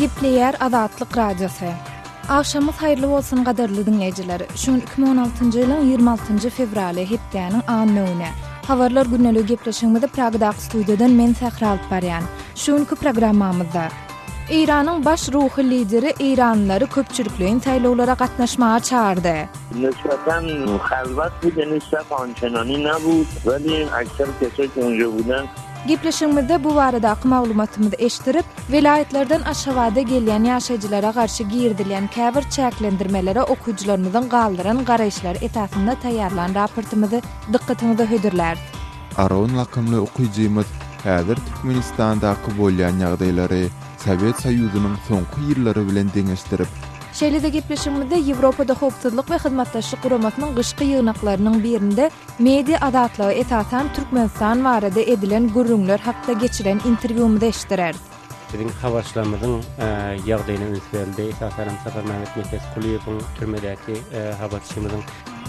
Gepleýär Azatlyk Radiosy. Agşamyňyz haýyrly bolsun gadyrly diňleýjiler. Şu gün 2016-njy ýylyň 26-njy fewraly, hepdäniň anna güni. Habarlar güneligi gepleşigimizi Pragadaky studiýadan men Sähra alyp barýan. Şu günki programmamyzda Eýranyň baş ruhy lideri eýranlylary köpçülikleýin saýlawlara gatnaşmaga çagyrdy. Nisbatan halwat bideni sap onçenany nabut, welin aýsar kesek ýunja biden. Gepleşigimizde bu baradaky maglumatymyzy eşdirip, welaýatlardan Aşgabada gelýän ýaşaýjylara garşy girizilýän käbir çäklendirmelere okyjylarymyzyň galdyran garaýyşlary esasynda taýýarlan raportymyzy dykgatyňyza hödürläris. Aron lakymly okyjymyz häzir Türkmenistandaky bolýan ýagdaýlary Sowet Soýuzynyň soňky ýyllary bilen deňeşdirip, Şeýle-de gepleşigimizde Ýewropada Howpsuzlyk we Hyzmatdaşlyk Guramasynyň gyşky ýygnaklarynyň birinde media azatlygy esasan Türkmenistan barada edilen gürrüňler hakda geçiren interwýumyzy eşitdireris. Biziň habarçylarymyzyň ýagdaýyna üns berildi, esasan hem Saparmämmet Nepes Kulyýewiň türmedäki habarçymyzyň.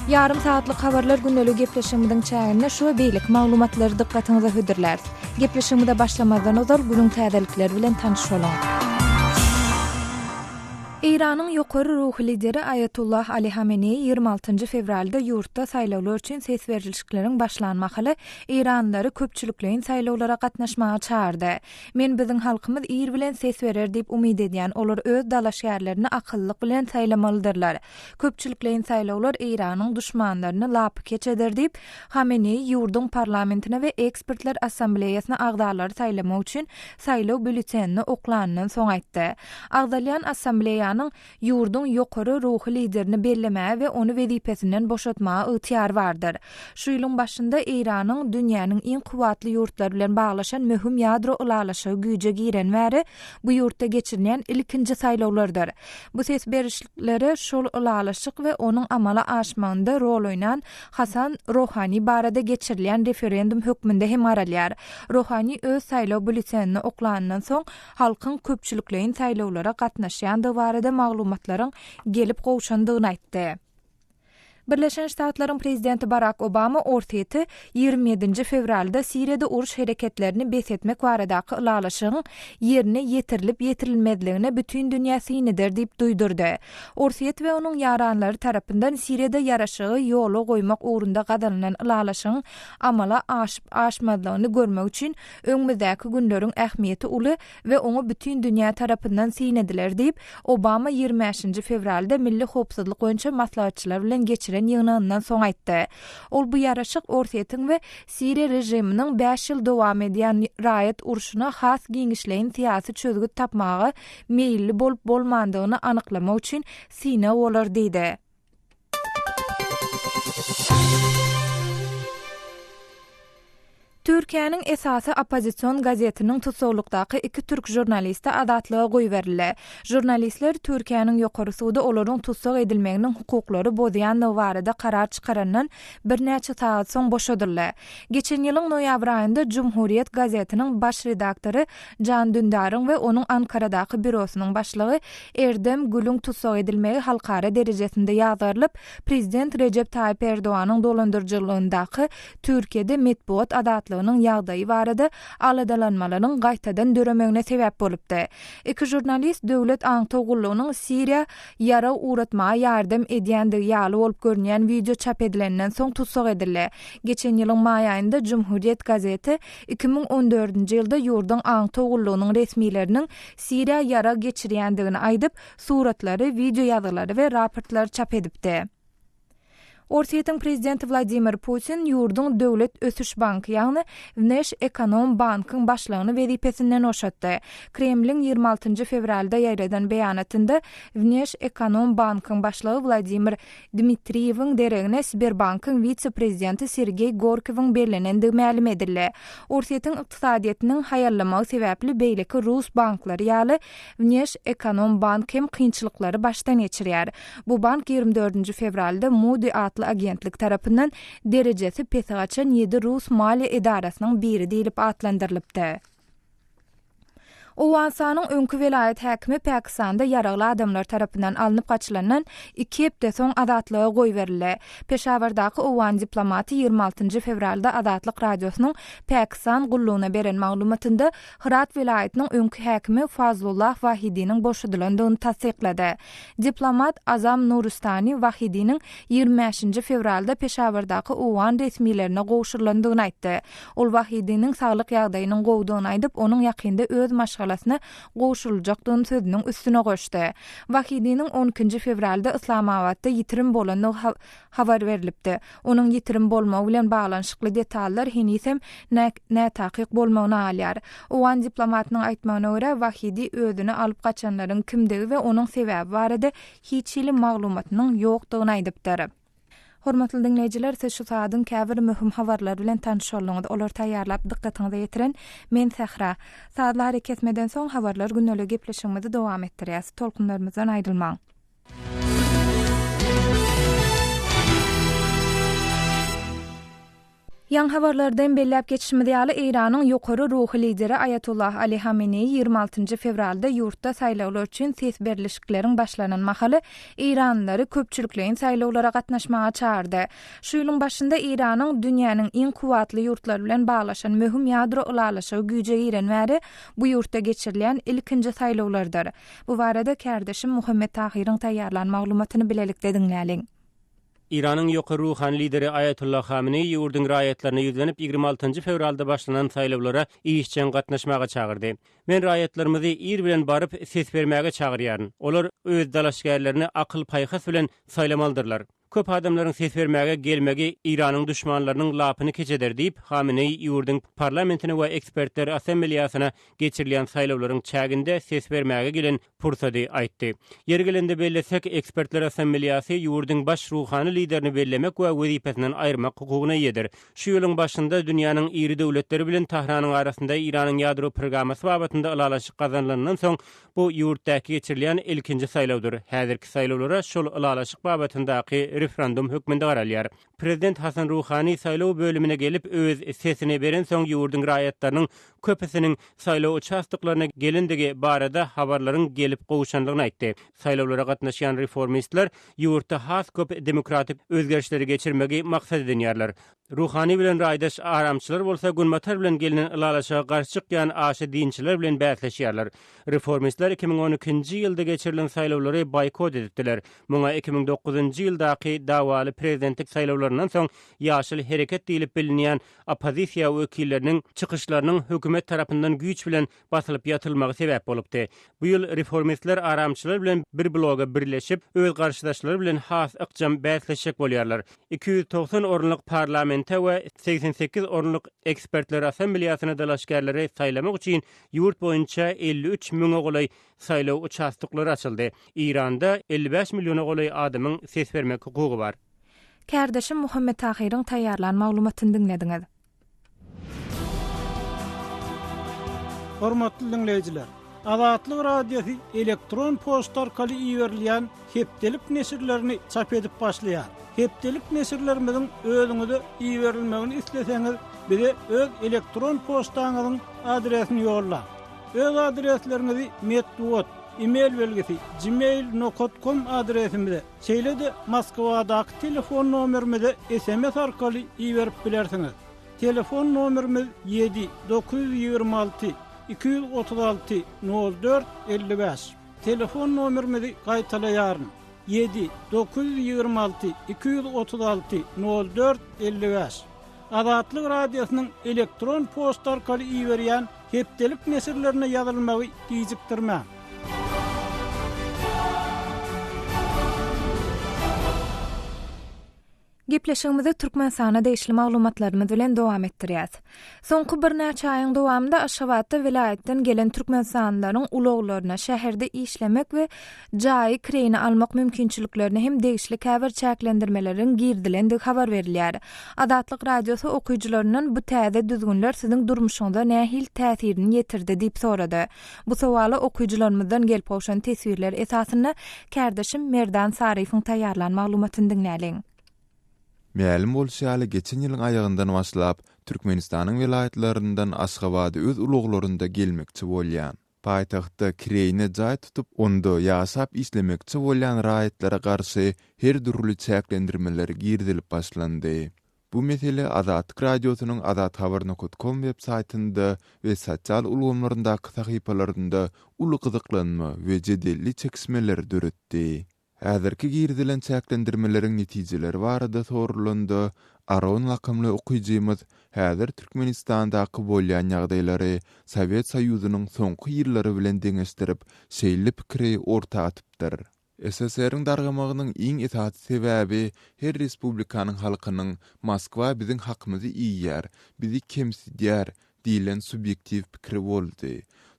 Ýarym sagatlyk habarlar gündelik gepleşigimiziň çäginde şu we beýleki maglumatlary dykgatyňyza hödürläris. Gepleşigimize başlamazdan ozal günüň täzelikleri bilen tanyş boluň. Eýranyň ýokary ruhy lideri Aýatullah Ali Hameneýi ýigrimi altynjy fewralda ýurtda saýlawlar üçin ses berilişikleriň başlan mahaly eýranlylary köpçülikleýin saýlawlara gatnaşmaga çagyrdy. Men biziň halkymyz ir bilen ses berer diýip umyt edýän, olar öz dalaşgärlerini akyllylyk bilen saýlamalydyrlar. Köpçülikleýin saýlawlar Eýranyň duşmanlaryny lapykeç eder diýip, Hameneýi ýurduň parlamentine we Ekspertler assambleýasyna agzalary saýlamak üçin saýlaw býulletenini oklanyndan soň aýtdy. Agzalýan assambleýanyň ýurduň ýokary ruhy liderini bellemäge we ony wezipesinden boşatmaga ygtyýary bardyr. Şu ýylyň başynda Eýranyň dünýäniň iň kuwwatly ýurtlary bilen baglaşan möhüm ýadro ylalaşygy güýje giren bäri, Bu ýurtda geçirilýän ilkinji saýlawlardyr. Bu ses berişliklere şol ylalaşyk we onuň amala aşmagynda rol oýnan Hasan Rohani barada geçirilýän referendum hökmünde hem garalýar. Rohani öz saýlaw býulletenini oklanyndan soň, halkyň köpçülikleýin saýlawlara gatnaşýandygy barada maglumatlaryň gelip gowşandygyny aýtdy. Birleşen Ştatlaryň Prezidenti Barak Obama Orsýeti ýigrimi ýedinji fewralda Siriýada uruş hereketlerini bes etmek baradaky ylalaşygyň ýerine ýetirilip-ýetirilmezligine bütin dünýä syn eder diýip duýdurdy. Orsýet we onuň ýaranlary tarapyndan Siriýada ýaraşygy ýola goýmak ugrunda gazanylan ylalaşygyň amala aşyp-aşmazlygyny görmek üçin öňümizdäki günleriň ähmiýeti uly, we oňa bütin dünýä tarapyndan syn ediler diýip, Obama ýigrimi bäşinji fewralda milli howpsuzlyk boýunça maslahatçylar bilen geçiren ýygnagyndan soň aýtdy. Ol bu ýaraşyk Orsýetiň we Siriýa režiminiň bäş ýyl dowam edýän raýat urşuna has giňişleýin syýasy çözgüt tapmaga meýilli bolup-bolmandygyny anyklamak üçin synag bolar diýdi. Türkiýäniň esasy oppozision gazetiniň tussaglykdaky iki türk žurnalisti azatlyga goýberildi. Žurnalistler Türkiýäniň ýokary sudy olaryň tussag edilmeginiň hukuklary bozýandygy barada karar çykarandan birnäçe sagat soň boşadyldy. Geçen ýylyň noýabr aýynda Cumhuriyet gazetiniň baş redaktory Jan Dündaryň we onuň Ankaradaky býurosynyň başlygy Erdem Gülüň tussag edilmegi halkara derejesinde ýazgarylyp, prezident Rejep Taýyp Erdoganyň dolandyryjylygyndaky Türkiýede metbugat azatlygynyň ýagdaýy barada aladalanmalaryň gaýtadan döremegine sebäp bolupdy. Iki žurnalist döwlet aňtaw gullugynyň Siriýa ýarag ugratmaga ýardam edýändigi ýaly bolup görünýän wideo çap edilenden soň tussag edildi. Geçen ýylyň maý aýynda Cumhuriyet gazeti iki müň on dördünji ýylda ýurduň aňtaw gullugynyň resmileriniň Siriýa ýarag geçirýändigini aýdyp, suratlary, wideoýazgylary we raportlary çap edipdi. Orsýetiň prezidenti Wladimir Putin ýurduň Döwlet ösüş banky, ýagny Wneşekonombankyň başlygyny wezipesinden boşatdy. Kremliň ýigrimi altynjy fewralda ýaýradan beýanatynda Wneşekonombankyň başlygy Wladimir Dmitriýewiň deregine Sberbankyň wise-prezidenti Sergeý Gorkowyň bellenendigi mälim edildi. Orsýetiň ykdysadyýetiniň haýallamagy sebäpli beýleki rus banklary ýaly, Wneşekonombank hem kynçylyklary başdan geçirýär. Bu bank ýigrimi dördünji fewralda Moody atly agentlik tarapyndan derejesi pese gaçan ýedi rus maliýe edarasynyň biri diýlip atlandyrylypdy. Owganystanyň öňki welaýat häkimi Pakistanda ýaragly adamlar tarapyndan alnyp gaçylandan iki hepde soň azatlyga goýberildi. Peşawardaky owgan diplomaty ýigrimi altynjy fewralda Azatlyk Radiosynyň Pakistan gullugyna beren maglumatynda Hyrat welaýatynyň öňki häkimi Fazlullah Wahidiniň boşadylandygyny tassyklady. Diplomat Azam Nuristani Wahidiniň ýigrimi bäşinji fewralda Peşawardaky owgan resmilerine gowşurylandygyny aýtdy. Ol Wahidiniň saglyk ýagdaýynyň gowudygyny aýdyp, onuň ýakynda öz maşgalasyna gowşuryljakdygyny sözüniň üstüne goşdy. Wahidiniň on ikinji fewralda Yslamabatda ýitirim bolandygy habar berlipdi. Onuň ýitirim bolmagy bilen baglanyşykly detallar henizem nätakyk bolmagyny alýar. Owgan diplomatynyň aýtmagyna görä, Wahidi özüni alyp gaçanlaryň kimdigi we onuň sebäbi barada hiç hili maglumatynyň ýokdugyny aýdypdyr. Hormatly diňleýjiler, siz şu sagadyň käbir möhüm habarlary bilen tanyş bolduňyz. Olary taýýarlap dykgatyňyza ýetiren men Sähra. Sazly ary kesmeden soň habarlar gündeligi gepleşigimizi dowam etdirýäs. Tolkunlarymyzdan aýrylmaň. Ýaňy habarlardan belläp geçişimiz ýaly, Eýranyň ýokary ruhy lideri Aýatollah Ali Hameneýi ýigrimi altynjy fewralda ýurtda saýlawlar üçin ses berlişikleriň başlanan mahaly eýranlylary köpçülikleýin saýlawlara gatnaşmaga çagyrdy. Şu ýylyň başynda Eýranyň dünýäniň iň kuwwatly ýurtlary bilen baglaşan möhüm ýadro ylalaşygy güýje giren bäri bu ýurtda geçirilýän ilkinji saýlawlardyr. Bu barada kärdeşim Muhammet Tahyryň taýýarlan maglumatyny bilelikde diňläliň. Eýranyň ýokary ruhany lideri Aýatolla Hameneý ýurduň raýatlaryna ýüzlenip, ýigrimi altynjy fewralda başlanan saýlawlara işjeň gatnaşmaga çagyrdy. Men raýatlarymyzy ir bilen baryp, ses bermäge çagyrýaryn. Olar öz dalaşgärlerini akyl-paýhas bilen saýlamalydyrlar. Köp adamlaryň ses bermäge gelmegi Eýranyň duşmanlarynyň lapyny keç eder diýip, Hameneý ýurduň parlamentine we ekspertler assembleýasyna geçirilýän saýlawlaryň çäginde ses bermäge gelen pursady aýtdy. Ýeri gelende bellesek, Ekspertler Assambliýasy ýurduň baş ruhany liderini bellemek we wezipesinden aýyrmak hukugyna eýedir. Şu ýylyň başynda dünýäniň iri döwletleri bilen Tahranyň arasynda Eýranyň ýadro prgramasy babatynda ylalaşyk gazanylanyndan soň, bu ýurtdaky geçirilýän ilkinji saýlawdyr. Häzirki saýlawlara şol ylalaşyk babatyndaky refrandum hökmünde garalýar. Prezident Hasan Ruhani saýlaw bölümine gelip öz sesini berensoň ýurduň raýatlarynyň köpüsiniň saýlaw uçastoklaryna gelendigi barada habarlaryň gelip gowşandygyny aýtdy. Saýlawlara gatnaşýan reformistler ýurtda has köp demokratik özgerişleri geçirmegi maksat edinýärler. Ruhani bilen raýdaş aramçylar bolsa Günbatar bilen gelnen ylalaşyga garşy çykýan aşa dinçiler bilen bäsleşýärler. Reformistler iki müň on ikinji ýylda geçirilen saýlawlary boýkot edipdiler. Muňa iki müň dokuzynjy ýyldaky dawaly prezidentlik saýlawlaryndan soň Ýaşyl hereket diýlip bilinýän oppozisiýa wekilleriniň çykyşlarynyň hökümet tarapyndan güýç bilen basylyp ýatylmagy sebäp bolupdy. Bu ýyl reformistler aramçylar bilen bir bloga birleşip, öz garşydaşlary bilen has ykjam bäsleşjek bolýarlar. Iki ýüz togsan orunlyk parlamente we segsen sekiz orunlyk ekspertler assambliýasyna dalaşgärleri saýlamak üçin ýurt boýunça elli üç müňe golaý Saýlaw uçastoklary açyldy. Eýranda elli bäş milliona golaý adamyň ses bermek hukugy bar. Kärdeşim Muhammet Tahyryň taýýarlan maglumatyny diňlediňiz. Hormatly diňleýjiler! Azatlyk Radiosy elektron poçta arkaly iberilýän hepdelik neşirlerini çap edip başlaýar. Hepdelik neşirlerimiziň özüňize iberilmegini isleseňiz, bize öz elektron poçtaňyzyň adresini ýollaň. Öz adresleriňizi metbugat, e-mail belgisi, gmail nokat kom adresimize, şeýle-de Moskwadaky telefon nomerimize sms arkaly iberip bilersiňiz. Telefon nomerimiz ýedi, dokuz ýüz ýigrimi alty, iki ýüz otuz alty, nol dört, elli bäş. Telefon nomerimizi gaýtalaýaryn, ýedi, dokuz ýüz ýigrimi alty, iki ýüz otuz alty, nol dört, elli bäş. Azatlyk Radiosynyň elektron poçta arkaly iberýän hepdelik neşirlerine ýazylmagy gijikdirmäň. Gepleşigimizi Türkmenistana degişli maglumatlarymyz bilen dowam etdirýäs. Soňky birnäçe aýyň dowamynda Aşgabatda welaýatdan gelen türkmenistanlylaryň ulaglaryna şäherde işlemek we jaýy kireýine almak mümkinçiliklerine hem degişli käbir çäklendirmeleriň girizilendigi habar berilýär. Azatlyk Radiosy okyjylaryndan bu täze düzgünler siziň durmuşyňyza nähili täsirini ýetirdi diýip sorady. Bu sowala okyjylarymyzdan gelip gowşan teswirler esasynda kärdeşim Merdan Saryýewiň taýýarlan maglumatyny diňläliň. Mälim bolşy ýaly, geçen ýylyň aýagyndan başlap, Türkmenistanyň welaýatlaryndan Aşgabada öz ulaglarynda gelmekçi bolýan. Paýtagtda kireýine jaý tutup, onda ýaşap işlemekçi bolýan raýatlara garşy her dürli çäklendirmeler girizilip başlandy. Bu mesele Azatlyk Radiosynyň azathabarnukotkom web saýtynda we sosial ulgamlaryndaky sahypalarynda uly gyzyklanma we jedelli çekişmeleri döretdi. Häzirki girizilen çäklendirmeleriň netijeleri barada soralanda, Aron lakymly okyjymyz häzir Türkmenistandaky bolýan ýagdaýlary Sowet Soýuzynyň soňky ýyllary bilen deňeşdirip, şeýle pikiri orta atypdyr. SSR-iň dargamagynyň iň esasy sebäbi her respublikanyň halkynyň Moskwa biziň hakymyzy iýýär, bizi kemsidýär, diýlen subýektiw pikiri boldy.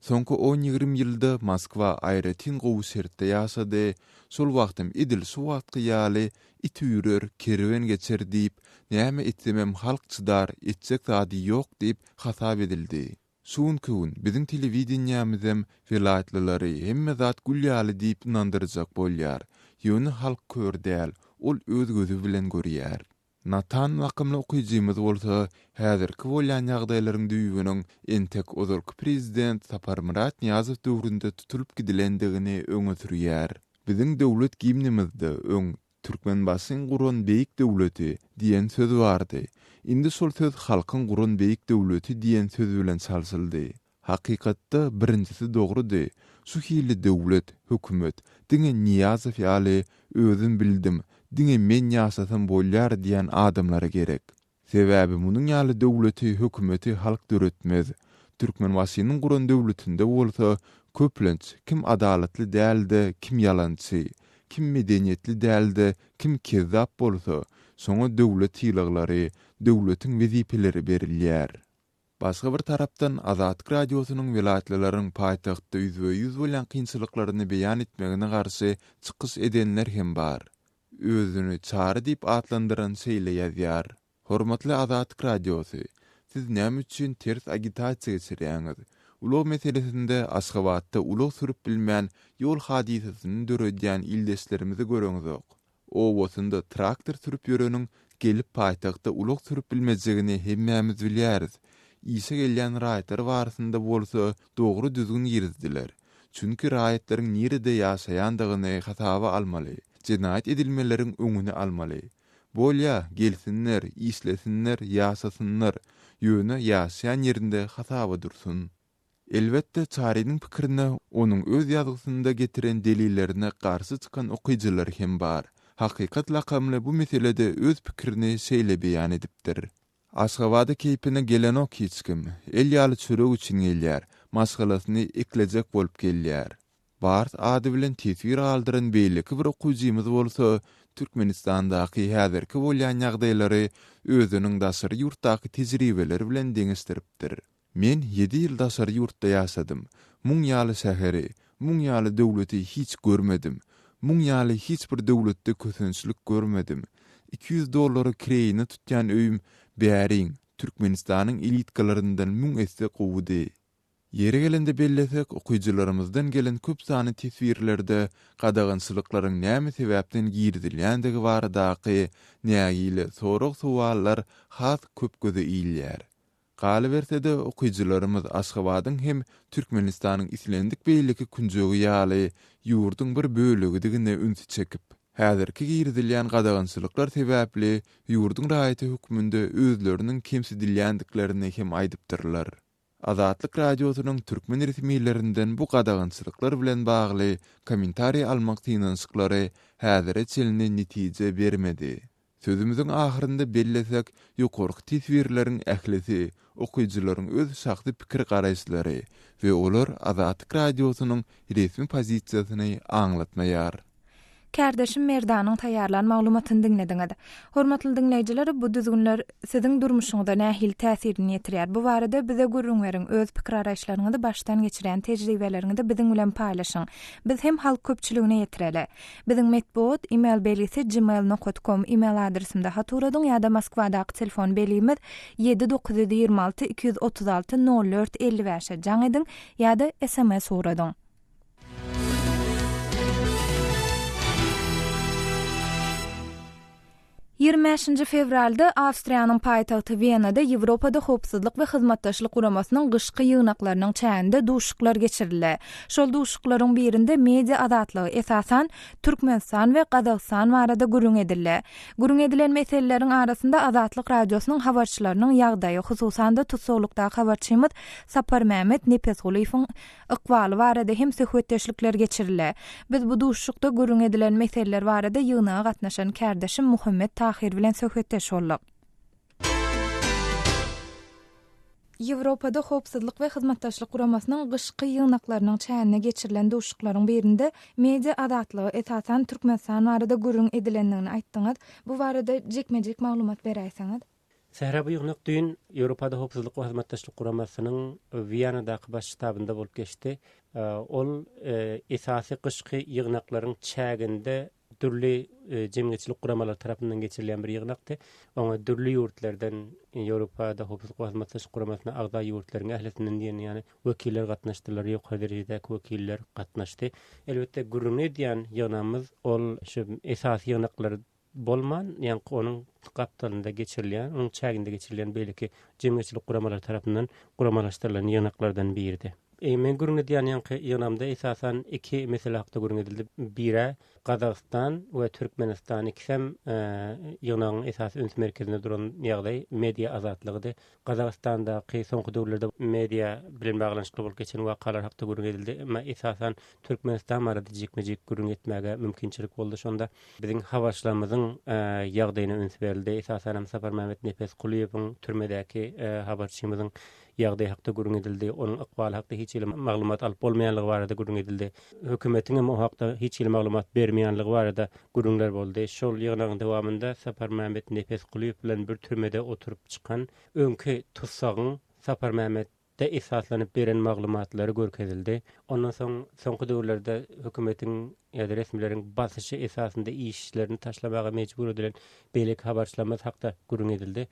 Soňky on-ýigrimi ýylda Moskwa aýratyn gowy şertde ýaşady, şol wagtam edil şu wagtky ýaly It üýrer, kerwen geçer diýip, näme etsemem halk çydar, etjek zady ýok diýip hasap edildi. Şu günki gün biziň telewideniýämizem welaýatlylary hemme zat gül ýaly diýip ynandyrjak bolýar, ýöne halk kör däl, ol öz gözi bilen görýär. Natan lakymly okyjymyz bolsa häzirki bolýan ýagdaýlaryň düýbüniň entek ozalky prezident Saparmyrat Nyýazow döwründe tutulyp gidilendigini öňe sürýär. Biziň Döwlet gimnimizde öň Türkmenbaşyň guran beýik döwleti diýen söz bardy. Indi şol söz halkyň guran beýik döwleti diýen söz bilen çalşyldy. Hakykatda birinjisi dogrydy, şu hili döwlet, hökümet, diňe Nyýazow ýaly, özüm bildim, diňe men ýaşasam bolýar diýýän adamlara gerek. Sebäbi munuň ýaly döwleti, hökümeti halk döretmez. Türkmenbaşynyň guran döwletinde bolsa, köplenç, kim adalatly dälde, kim ýalançy, kim medeniýetli dälde, kim kezzap bolsa, şoňa döwlet sylaglary, döwletiň wezipeleri berilýär. Başga bir tarapdan, Azatlyk Radiosynyň welaýatlylaryň paýtagtda ýüzbe-ýüz bolýan kynçylyklaryny beýan etmegine garşy çykyş edenler hem bar. Özüni Çary diýip atlandyran şeýle ýazýar, Hormatly Azatlyk Radiosy, siz näme üçin ters agitasiýa geçirýäňiz? Ulag meselesinde Aşgabatda ulag sürüp bilmän, ýol hadysasyny döredýän ildeşlerimizi göreňzok. Obasynda traktor sürüp ýöreniň gelip paýtagtda ulag sürüp bilmejegini hemmämiz bilýäris. Işe gelýän raýatlar barasynda bolsa dogry düzgün girizdiler. Çünki raýatlaryň nirede ýaşaýandygyny hasaba almaly, jenaýat edilmeleriň öňüni almaly. Bolýa, gelsinler, işlesinler, ýaşasynlar, ýöne ýaşaýan ýerinde hasaba dursun. Elbetde, Çarynyň pikirine onuň öz ýazgysynda getiren delillerine garşy çykan okyjylar hem bar. Hakykat lakamly bu meselede öz pikirini şeýle beýan edipdir. Aşgabada keýpine gelenok hiç kim. El ýaly çörek üçin gelýär. Maşgalasyny eklejek bolup gelýär. Bars ady bilen teswir galdyran beýleki bir okyjymyz bolsa Türkmenistandaky häzirki bolýan ýagdaýlary özüniň daşary ýurtdaky tejribeleri bilen deňeşdiripdir. Men ýedi ýyl daşary ýurtda ýaşadym. Muň ýaly şäheri, muň ýaly döwleti hiç görmedim. Muň ýaly hiç bir döwletde kösençlik görmedim. Iki ýüz dollara kireýine tutýan öýüm bäriň Türkmenistanyň elitkalaryndan müň esse gowudy. Ýeri gelende bellesek, okyjylarymyzdan gelen köp sany teswirlerde gadagançylyklaryň näme sebäpden girizilýändigi baradaky nägile sorag-sowallar has köp göze ilýär. Galyberse-de, okyjylarymyz Aşgabadyň hem Türkmenistanyň islendik beýleki künjegi ýaly, ýurduň bir bölegidigine ünsi çekip, häzirki girizilýän gadagançylyklar sebäpli ýurduň raýaty hökmünde özleriniň kemsidilýändiklerini hem aýdypdyrlar. Azatlyk Radiosynyň türkmen resmilerinden bu gadagançylyklar bilen bagly kommentariý almak synanyşyklary häzire çenli netije bermedi. Sözümiziň ahyrynda bellesek, ýokarky teswirleriň ählisi okyjylaryň öz şahsy pikir-garaýyşlary we olar Azatlyk Radiosynyň resmi pozisiýasyny aňlatmaýar. Kärdeşim Merdanyň taýýarlan maglumatyny diňlediňiz. Hormatly diňleýjiler, bu düzgünler Siziň durmuşyňyza nähili täsirini ýetirýär? Bu barada bize gürrüň beriň, öz pikir-araýyşlaryňyzy, başdan geçirýän tejribeleriňizi biziň bilen paýlaşyň. Biz hem halk köpçüligine ýetireli. Biziň metbugat, email belgisi gmail nokat kom email adresimde hat uradyň ýa-da Moskwadaky telefon belgimiz ýedi dokuz ýüz ýigrimi alty iki ýüz otuz alty nol dört elli bäş e jaň ediň ýa-da sms ugradyň. Ýigrimi bäşinji fewralda Awstriýanyň paýtagty Wenada Ýewropada Howpsuzlyk we Hyzmatdaşlyk Guramasynyň gyşky ýygnaklarynyň çäginde duşuşyklar geçirildi. Şol duşuşyklaryň birinde media azatlygy, esasan, Türkmenistan we Gazagystan barada gürrüň edildi. Gürrüň edilen meseleleriň arasynda Azatlyk Radiosynyň habarçylarynyň ýagdaýy, hususan-da, tussaglykdaky habarçymyz Saparmämmet Nepesgulyýewiň ykbaly barada hem söhbetdeşlikler geçirildi. Biz bu duşuşykda gürrüň edilen meseleler barada ýygnaga gatnaşan kärdeşim Muhammet Tahir bilen söhbetdeş bolduk. Ýewropada Howpsuzlyk we Hyzmatdaşlyk Guramasynyň gyşky ýygnaklarynyň çäginde geçirilen duşuşyklaryň birinde media azatlygy, esasan, Türkmenistan barada gürrüň edilendigini aýtdyňyz. Bu barada jikme-jik maglumat beräýseňiz? Sähra Buýurnak düýn Ýewropada Howpsuzlyk we Hyzmatdaşlyk Guramasynyň Wiýanadaky Baş ştabynda bolup geçdi. Ol esasy gyşky ýygnaklaryň çäginde dürli jemgyýetçilik guramalary tarapyndan geçirilýän bir ýygnakdy. Oňa dürli ýurtlardan, Ýewropada Howpsuzlyk we Hyzmatdaşlyk Guramasyna agza ýurtlaryň ählisinden diýen ýaly wekiller gatnaşdylar, ýokary derejedäki wekiller gatnaşdy. Elbetde, gürrüňi edýän ýygnagymyz ol şu esasy ýygnaklar bolman, ýaňky onuň gapdalynda geçirilýän, onuň çäginde geçirilýän beýleki jemgyýetçilik guramalary tarapyndan guramalaşdyrylan ýygnaklardan biridi. Men gürrüň edýän ýaňky ýygnamda esasan iki mesele hakda gürrüň edildi. Bir-ä, Gazagystan we Türkmenistan ikisem ýygnagyň esasy üns merkezinde duran ýagdaý media azatlygydy. Gazagystandaky soňky döwürlerde media bilen baglanyşykly bolup geçen wakalar hakda gürrüň edildi. Emma esasan Türkmenistan barada jikme-jik gürrüň etmäge mümkinçilik boldy. Şonda biziň habarçylarymyzyň ýagdaýyna üns berildi. Esasan hem Saparmämmet Nepesgulyýewiň türmedäki habarçymyzyň ýagdaýy hakda gürrüň edildi. Onuň ykbaly hakda hiç hili maglumat alyp bolmaýanlygy barada gürrüň edildi. Hökümetiň hem o hakda hiç hili maglumat bermeýänligi barada gürrüňler boldy. Şol ýygnagyň dowamynda Saparmämmet Nepesgulyýew bilen bir türmede oturyp çykan öňki tussagyň Saparmämmet de esaslanyp beren maglumatlary görkezildi. Ondan soň soňky döwürlerde hökümetiň ýa-da resmileriň basyşy esasynda işlerini taşlamaga mejbur edilen beýleki habarçylarymyz hakda gürrüň edildi.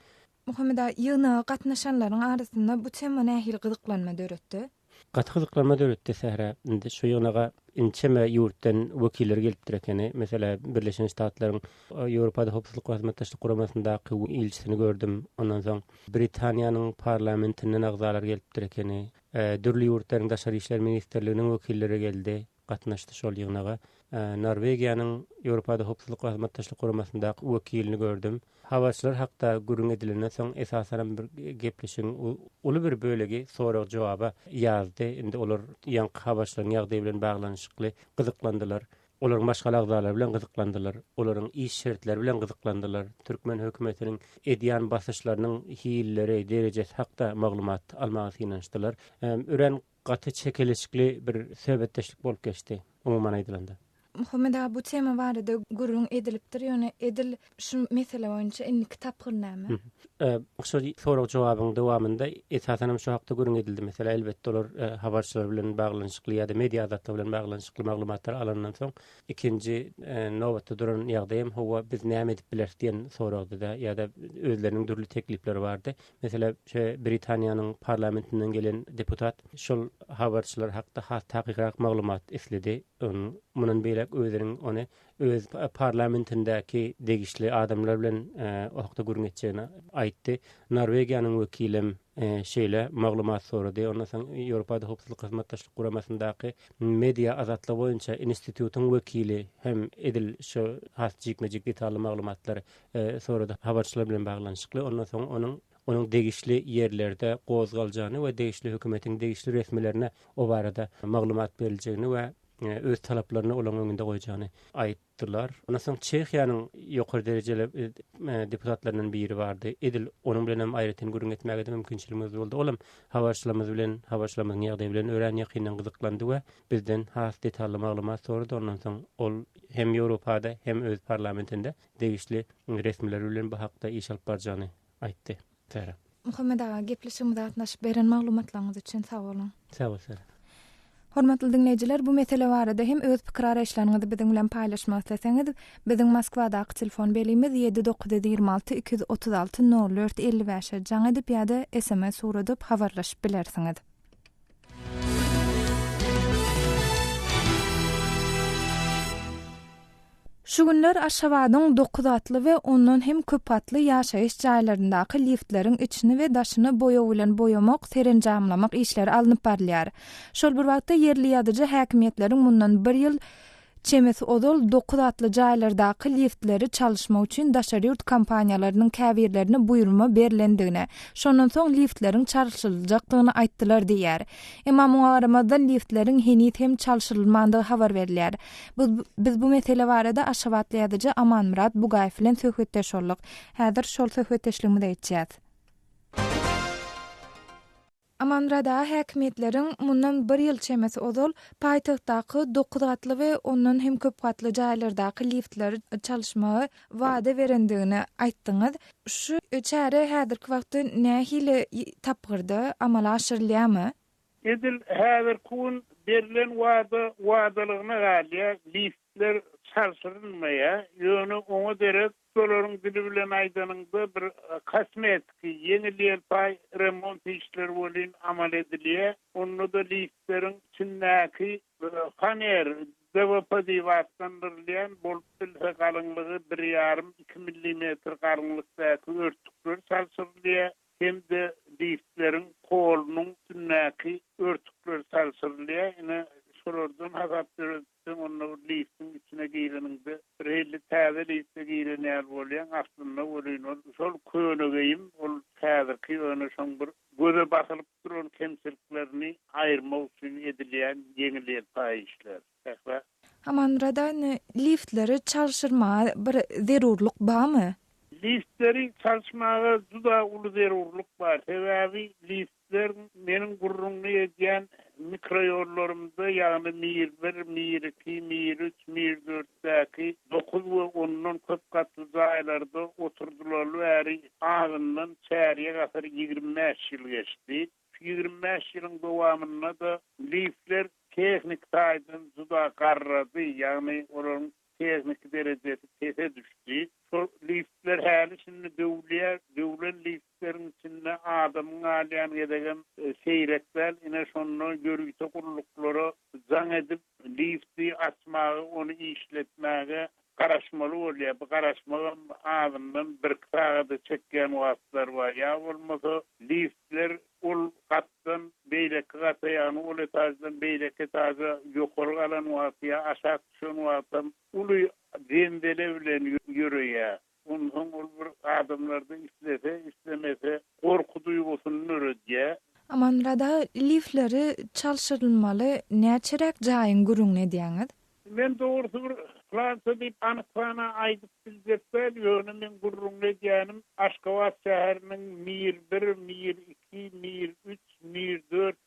Muhammedaý, ýygnaga gatnaşanlaryň arasynda bu tema nähili gyzyklanma döretdi? Gaty gyzyklanma döretdi sähra. Indi şu ýygnaga ençeme ýurtdan wekiller gelipdir ekeni. Meselä, Birleşen Ştatlaryň Ýewropada Howpsuzlyk we Hyzmatdaşlyk Guramasyndaky ilçisini gördüm. Ondan soň Britaniýanyň parlamentinden agzalar gelipdir ekeni. Dürli ýurtlaryň daşary işler ministrliginiň wekilleri geldi. gatnaşdy. Şol ýygnaga Norwegiýanyň Ýewropada Howpsuzlyk we Hyzmatdaşlyk Guramasyndaky wekilini gördüm. Habarçylar hakda gürrüň edilenden soň, esasanam bir gepleşigiň uly bir bölegi sorag-jogaba ýazdy. Indi olar ýaňky habarçylaryň ýagdaýy bilen baglanyşykly gyzyklandylar. Olaryň maşgala agzalary bilen gyzyklandylar. Olaryň iş şertleri bilen gyzyklandylar. Türkmen hökümetiniň edýän basyşlarynyň hilleri, derejesi hakda maglumat almaga synanyşdylar. Örän Gaty çekeleşikli bir söhbetdeşlik bolup geçdi, umuman aýdylanda. Muhammet aga bu tema barada gürrüň edilipdir, ýöne edil şu mesele boýunça indiki tapgyr näme? Şu sorag-jogabyň dowamynda esasan hem şu hakda gürrüň edildi. Meselem, elbetde olar habarçylar bilen baglanyşykly ýa-da media azatlygy bilen baglanyşykly maglumatlary alandan soň, ikinji nobatda duran ýagdaý hem, Hawa, biz näme edip bileris diýen soragdy-da, ýa-da özleriniň dürli teklipleri bardy. Meselem, şeý Britaniýanyň parlamentinden gelen deputat şol habarçylar hakda has takykrak maglumat isledi. Onuň mundan beýläk özüniň ony öz parlamentindäki degişli adamlar bilen o hakda gürrüň etjegini aýtdy. Norwegiýanyň wekilem şeýle maglumat sorady. Ondan soň Ýewropada Howpsuzlyk Hyzmatdaşlyk Guramasyndaky media azatlygy boýunça institutyň wekili hem edil şu has jikme-jik detally maglumatlary sorady habarçylar bilen baglanyşykly. Ondan soň onuň onuň degişli ýerlerde gozgaljagyny we degişli hökümetiň degişli resmilerine o barada maglumat beriljegini we e, öz talaplaryny olaryň öňünde goýjagyny aýtdylar. Ondan soň Çehiýanyň ýokary derejeli e, e, deputatlaryndan biri bardy. Edil onuň bilen hem aýratyn gürrüň etmäge de mümkinçiligimiz boldy. Ol hem habarçylarymyz bilen, habarçylarymyzyň ýagdaýy bilen örän ýakyndan gyzyklandy we bizden has detally maglumat sorady. Ondan soň ol hem Ýewropada, hem öz parlamentinde degişli resmiler bilen bu hakda iş alyp barjagyny aýtdy. Sara. Muhammet aga, gepleşigimize gatnaşyp, beren maglumatlaryňyz üçin sag boluň! Sag bol, Sara! Hormatly diňleýjiler, bu mesele barada hem öz pikir-araýyşlaryňyzy biziň bilen paýlaşmak isleseňiz, biziň Moskwadaky telefon belimiz ýedi dokuz ýüz ýigrimi alty iki ýüz otuz alty nol dört elli bäşe jaň edip ýa-da sms ugradyp habarlaşyp bilersiňiz. Şu günler Aşgabadyň dokuz atly we ondan hem köp atly ýaşaýyş jaýlaryndaky liftleriň içini we daşyny boýag bilen boýamak, serenjamlamak işleri alnyp barylýar. Şol bir wagtda, ýerli ýazyjy häkimiýetleriň mundan bir ýyl Çemesi ozal dokuz atly jaýlardaky liftleri çalyşmak üçin daşary ýurt kompaniýalarynyň käbirlerine buýurma berlendigini, şondan soň liftleriň çalşyryljakdygyny aýtdylar diýýär. Emma muňa garamazdan liftleriň heniz hem çalşyrylmandygy habar berilýär. Biz bu mesele barada aşgabatly ýazyjy Amanmyrat Bugaýew bilen söhbetdeş bolduk. Häzir şol söhbetdeşligimize geçýäs. Amanrada häkimiýetleriň mundan bir ýyl çemesi ozal paýtagtdaky dokuz gatly we ondan hem köp gatly jaýlardaky liftleri çalyşmagy wada berendigini aýtdyňyz. Şu çäre häzirki wagtda nähili tapgyrda amala aşyrylýarmy? Edil häzirki gün berlen wada wadalygyna galýar. Lift Ler çalşyrylmaýar, ýöne oňa derek şolaryň dili bilen aýdanyňda bir kosmetiki, ýeňil-ýelpaý remont işleri welin amal edilýär. Onda-da liftleriň içindäki faner, DVP diýip atlandyrylýan, bolup bilse galyňlygy bir ýarym, iki millimetr galyňlykdaky örtükler çalşyrylýar hem-de liftleriň polunyň üstündäki örtükler çalşyrylýar. Ine, şolardan hasap döredip. Sen onda bir liftiň içine gireniňde bir hili täze lifte giren ýaly bolýaň, aslynda welin ol şol köne geýim, ol häzirki ýöne şoň bir göze basylyp duran kemçiliklerini aýyrmak üçin edilýän ýeňil-ýelpaý işler. Sähra. Amanmyrada indi liftleri çalşyrmaga bir zerurlyk barmy? Liftleri çalşmaga juda uly zerurlyk bar. Sebäbi lift Bizler meniň gürrüňini edýän mikroýollarymda, ýagny Mir bir, Mir iki, Mir üç, Mir dörtdäki dokuz we ondan köp gatly jaýlarda oturdylaly bäri azyndan çärýek asyr, ýigrimi bäş ýyl geçdi. Şu ýigrimi bäş ýylyň dowamynda-da lifler tehniki taýdan juda garrady, ýagny olaryň Tehniki derejesi pese düşdi. Şol liftler häli-şindi döwülýär. Döwlen liftleriň içinde adamyň galýan gezegem seýrek däl. Ine, şonda ýörite gulluklara jaň edip, lifti açmaga, ony işletmäge garaşmaly bolýar. Bu garaşmagam azyndan birki sagada çekýän wagtlary bar. Ýa bolmasa, liftler Ol gatdan beýleki gata, ýagny ol etaždan beýleki etaža ýokary galan wagty ýa aşak düşen wagtam uly jendele bilen ýöreýär. Onsoň ol bir adamlarda islese, islemese gorky duýgusyny döredýär. Amanmyrat aga, lifleri çalşyrylmaly näçeräk jaýyň gürrüňini edýäňiz? Men dogrusy bir Fransiýa diýip anyk sana aýdyp biljek däl, ýöne men gürrüňini edýänim Aşgabat şäheriniň Mir bir, Mir iki, Mir üç, Mir dört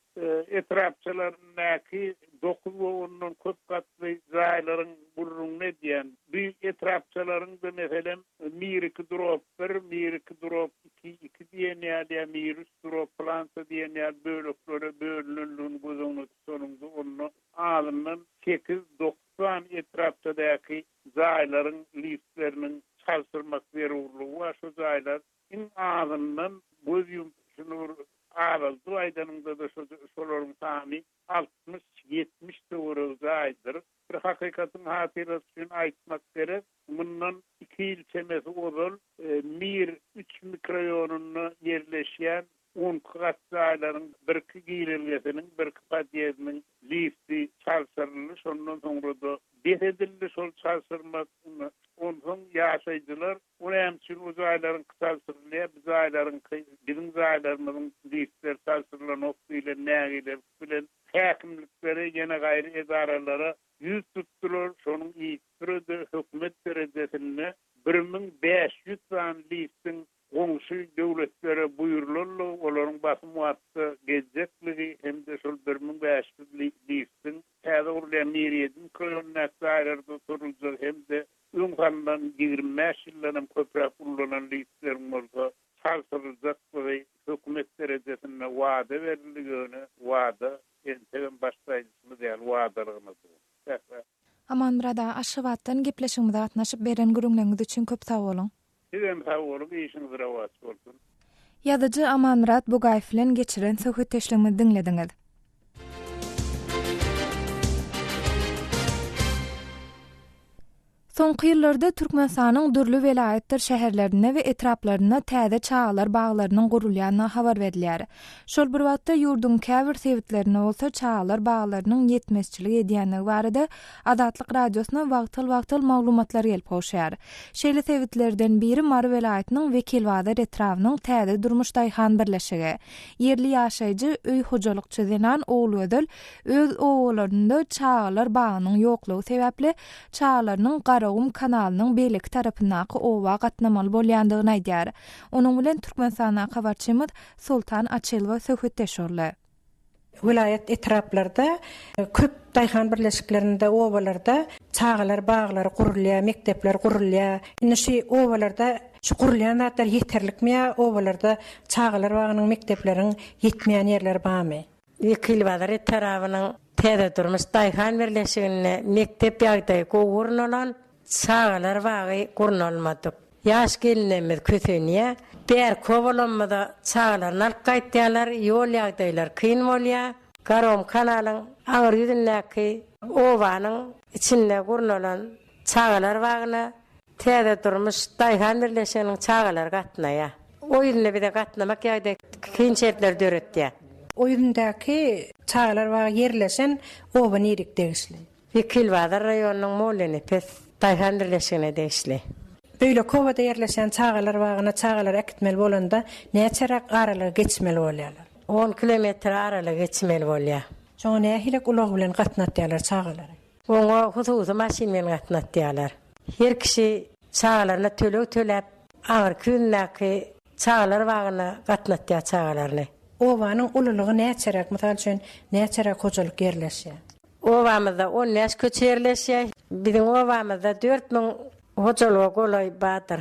etrapçalaryndaky dokuz we ondan köp gatly jaýlaryň gürrüňini edýän. Bu etrapçalaryň-da meselem Mir iki drop bir, Mir iki drop iki, iki diýen ýaly ýa Mir üç drop plança diýen ýaly bölekleri bölünendigini göz öňüne tutanyňda onda azyndan sekiz-dokuz sany etrapdadäki jaýlaryň liftleriniň çalşyrmak zerurlygy bar. Şu jaýlar iň azyndan göz ýumup, şuny bir azaldyp aýdanyňda-da şu şolaryň sany altmyş-ýetmiş töweregi jaýdyr. Bir hakykatyň hatyrasy üçin aýtmak gerek, Mundan iki ýyl çemesi ozal Mir üç mikroýonunda ýerleşýän on iki gatly jaýlaryň birki girelgesiniň, birki podýezdiniň lifti çalşyryldy, şondan soňra-da bes edildi şol çalşyrma. Onsoň ýaşaýjylar O näme üçin o jaýlaryňky çalşyrylýar, bu jaýlaryňky, biziň jaýlarymyzyň liftleri çalşyrylanok diýlen nägilelik bilen häkimliklere, ýene gaýry edaralara ýüz tutdular, şonuň üstüre-de hökümet derejesinde bir müň bäş ýüz sany liftiň goňşy döwletlere buýrulanlygy, olaryň basym wagtda gezjekdigi hem-de şol bir müň bäş ýüz liftiň täze gurulýan Miriýediň kölündäki jaýlarda oturyljak hem-de öň salnan ýigrimi bäş ýyldan hem köpräk ullanan liftleriň bolsa çalşyryljakdygy hökümet derejesinde wada berildi, ýöne wada Entegem baş saýynçymyz ýaly wadalygna dur. Säh bä. Amanmyrat aga Aşgabatdan gepleşigimize gatnaşyp beren gürüňleňiz üçin köp sag boluň. Sizem sag boluň işiňiz rowaç bolsun. Ýazyjy Amanmyrat Bugaýew bilen geçiren söhbetdeşligimizi diňlediňiz. Soňky ýyllarda Türkmenistanyň dürli welaýatdyr şäherlerinde we etraplarynda täze çagalar baglarynyň gurulýandygy habar berilýär. Şol bir wagtda, ýurduň käbir sebitlerinde bolsa çagalar baglarynyň ýetmezçilik edýändigi barada Azatlyk Radiosyna wagtal-wagtal maglumatlar gelip gowşýar. Şeýle sebitlerden biri Mary welaýatynyň Wekilbazar etrabynyň Täze durmuş daýhan birleşigi. Ýerli ýaşaýjy, öý hojalykçy zenan Ogulgözel öz obalarynda çagalar bagynyň ýoklugy sebäpli çagalarynyň Garagum kanalynyň beýleki tarapyndaky oba gatnamaly bolýandygyny aýdýar. Onuň bilen Türkmenistandan habarçymyz Soltan Açylowa söhbetdeş boldy. Welaýat etraplarda köp daýhan birleşiklerinde, obalarda çagalar baglary gurulýar, mekdepler gurulýar. Indi şu obalarda şu gurulýan zatlar ýeterlikmi ýa obalarda çagalar bagynyň, mekdepleriň ýetmeýän ýerleri barmy? Wekilbazar etrabynyň Täzedurmuş daýhan birleşiginde mekdep ýagdaýy gowy gurnalan çagalar bagy gurnalmadyk. Ýaş gelnemiz kösenýä. Bärki obalamyza çagalaryny alyp gaýtýalar, ýol ýagdaýlary kyn bolýa. Garom kanalyň aňyr ýüzündäki obanyň içinde gurnalan çagalar bagyna Täze durmuş daýhan birleşiginiň çagalary gatnaýar. Oýunda bize gatnamak ýagdaýy kyn şertleri döretýär. Oýundaky çagalar bagy ýerleşen oba nirik degişli? Wekilbazar raýonynyň Mollenepes daýhan birleşigine degişli. Beýleki obada ýerleşen çagalar bagyna çagalary äkitmeli bolanda näçeräk aralygy geçmeli bolýarlar? On kilometr aralygy geçmeli bolýar. Şoňa nähilek ulag bilen gatnatýarlar çagalary? Oňa hususy maşyn bilen gatnatýarlar. Her kişi çagalaryna töleg töläp, aňyrky ýündäki çagalar bagyna gatnatýar çagalaryny. Obanyň ululygy näçeräk, mysal üçin, näçeräk hojalyk ýerleşýär? Obamyzda on bäş köçe ýerleşýär. Biziň obamyzda dört müň hojalyga golaý bardyr.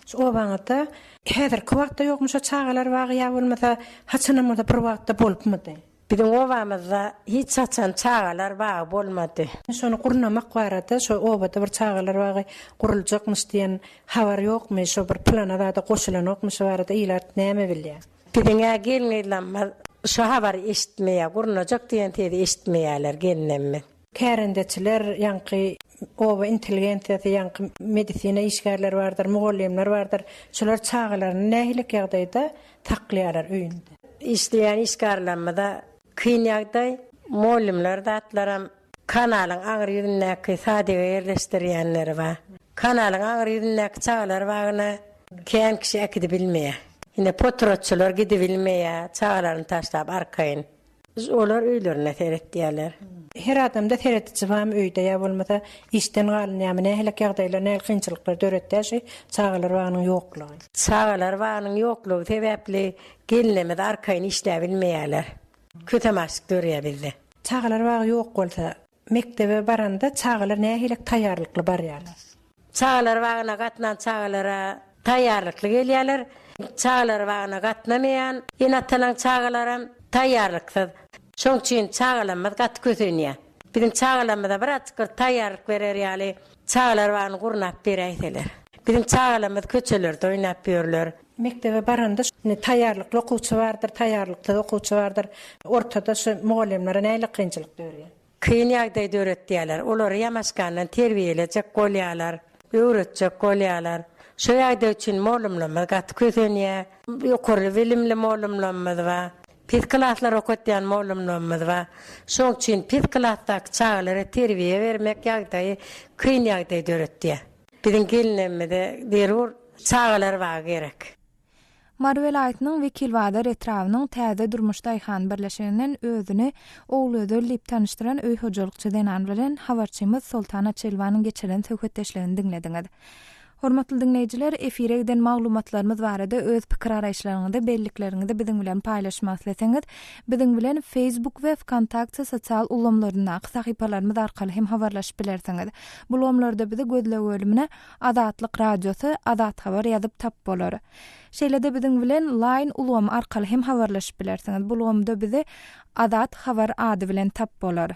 Şu obaňyzda häzirki wagtda ýokmy şo çagalar bagy ýa bolmasa haçanam bir wagtda bolupmydy? Biziň obamyzda hiç haçan çagalar bagy bolmady. Şony gurnamak barada şo obada bir çagalar bagy guruljakmyş diýen habar ýokmy şo bir plana zada goşulanokmy şo barada ilat näme bilýä? Biziňä gelin gyzlamyz şo habary eşitmeýä gurnajak diýen sezi eşitmeýäler gelnemmiz. Kärendeçiler, ýaňky oba intelligensiýasy, ýaňky medisina işgärleri bardyr, mugallymlar bardyr. Şular çagalaryny nähilikä ýagdaýda saklaýarlar öýünde? Işleýän işgärlerimiz-ä kyn ýagdaý, mugallymlar zatlaram kanalyň aňry ýüzündäki sadega ýerleşdirýänleri bar. Kanalyň aňry ýüzündäki çagalar bagyna kän kişi äkidibilmeýär. Ine potratçylar gidibilmeýär, çagalaryny taşlap arkaýyn. Olar öýlerinde seretýärler. Her adamda serediji barmy öýde ýa bolmasa işden galynýamy nähilek ýagdaýlar nähili kynçylyklar döretýär şu çagalar bagynyň ýoklugy. Çagalar bagynyň ýoklugy sebäpli gelinlerimiz arkaýyn işläbilmeýärler. Kösem açlyk dörýär bizde. Çagalar bagy ýok bolsa. Mekdebe baranda çagalar nähilek taýýarlykly barýarlar? Çagalar bagyna gatnan çagalara taýýarlykly gelýärler. Çagalar bagyna gatnamaýan ene-atalaryň çagalaram taýýarlyksyz. Şonuň üçin çagalarymyz gaty kösenýär. Biziň çagalarymyza bir azajyk bir taýýarlyk berer ýaly çagalar bagyny gurnap beräýseler. Biziň çagalarymyz köçelerde oýnap ýörler. Mekdebe baranda indi taýýarlykly okuwçy bardyr, taýýarlyksyz okuwçy bardyr. Ortada şu mugallymlara nähili kynçylyk dörýär? Kyn ýagdaý döretýärler. Olary ýamaşgandan terbiýelejek bolýarlar, öwretjek bolýarlar. Şu ýagdaý üçin mugallymlarymyz gaty kösenýär. Ýokary bilimli mugallymlarymyz bar. Pes klaslar okatýan mugallymlarymyz bar. Şoň üçin pes klasdaky çagalara terbiýe bermek ýagdaýy kyn ýagdaý döretýär. Biziň gelnemize zerur çagalar bagy gerek. Mary welaýatynyň Wekilbazar etrabynyň Täze Durmuş daýhan birleşiginden özüni Ogulgözel diýip tanyşdyran öý hojalykçy zenan bilen habarçymyz Soltana Çelwanyň geçiren söhbetdeşligini diňlediňiz. Hormatly diňleýjiler, efire giden maglumatlarymyz barada öz pikir-araýyşlaryňyzy, bellikleriňizi biziň bilen paýlaşmak isleseňiz, biziň bilen Facebook we Wkontakt sosial ulgamlaryndaky sahypalarymyz arkaly hem habarlaşyp bilersiňiz. Bu lomlarda bizi gözleg bölümine Azatlyk Radiosy, Azat Haber ýazyp tap bolar. Şeýle-de biziň bilen Line ulgamy arkaly hem habarlaşyp bilersiňiz. Bu ulgamda bizi Azat Haber ady bilen tap bolar.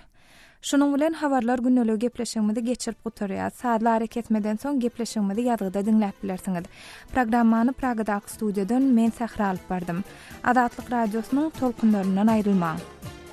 Şunuň bilen Habarlar gündeligi gepleşigimizi geçirip gutarýas. Sazly arakesmeden soň gepleşigimizi ýazgyda diňläp bilersiňiz. Programmany Pragadaky studiýadan men Sähra alyp bardym. Azatlyk Radiosynyň tolkunlaryndan aýrylmaň.